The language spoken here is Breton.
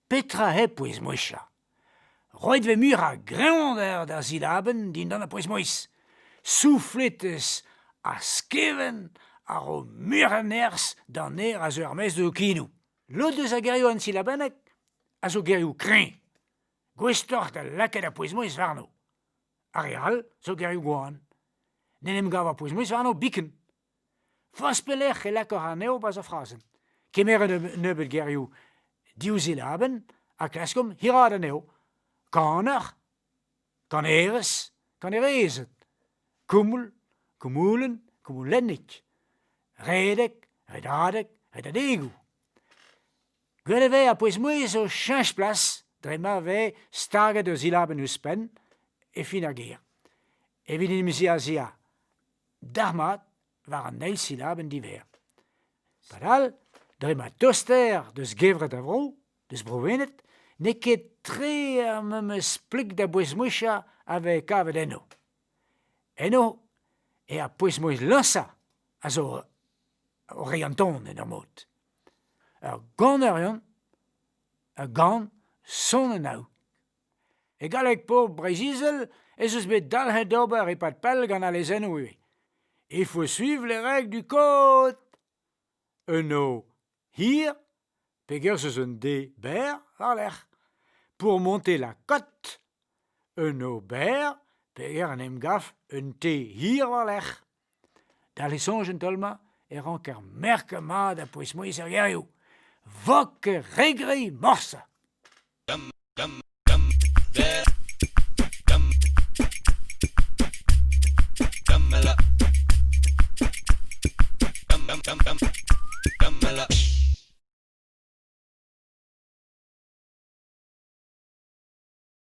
Petra hep pouez-mouezhañ ? Roet vez mui a-greñvañ d'ar silabenn dindan ar pouez-mouezh. Soufletez ha skevent a ro muiañ a nerzh d'an ner a zeu er-maez d'ho kinoù. Lod eus ar gerioù ensilabennek a zo gerioù kreñv, gouestoc'h da lakaat ar pouez-mouezh warno. Ar re all zo gerioù gwan. N'en em gav ar pouez-mouezh warno biken. Forzh pelec'h e lakor anezho bezañ frazenn. Kemeret un nebeud gerioù div zilabenn ha klaskomp hiraat anezho. Kanoc'h Kanerez, kanerezed, koumoul, koumoulenn, koumoulennig, redek, redadeg, redadegoù. Gwell e vez ar pouez-mouezh o cheñch plas dre ma vez staget ur silabenn ouzhpenn e fin ar ger. Evit inimeziañ a-ziàr dalc'hmat war an eil silabenn divêr. Padal, dre ma toster deus gevred a vro, deus Bro-Wened, n'eo ket tre ar memes plik da bouez-mouezhañ a vez kavet enno. Eno eo ar pouez-mouezh lañsañ a zo o reiñ an ton en ur mod. Ur ganerion, ur gan sonennañ E galleg pobl Breizh-Izel ez eus bet dalc'het d'ober e-pad pell gant al lezennoù ivez. Il faut suivre les règles du code. Un O hir, pegerzh eus un D berr war-lerc'h, pour monter la cote. Un O berr, peger en em gav un T hir war-lerc'h. D'al lesoñj en taol-mañ e ranker merkañ mat ha pouez-mouezh ar gerioù – vok re gre morse.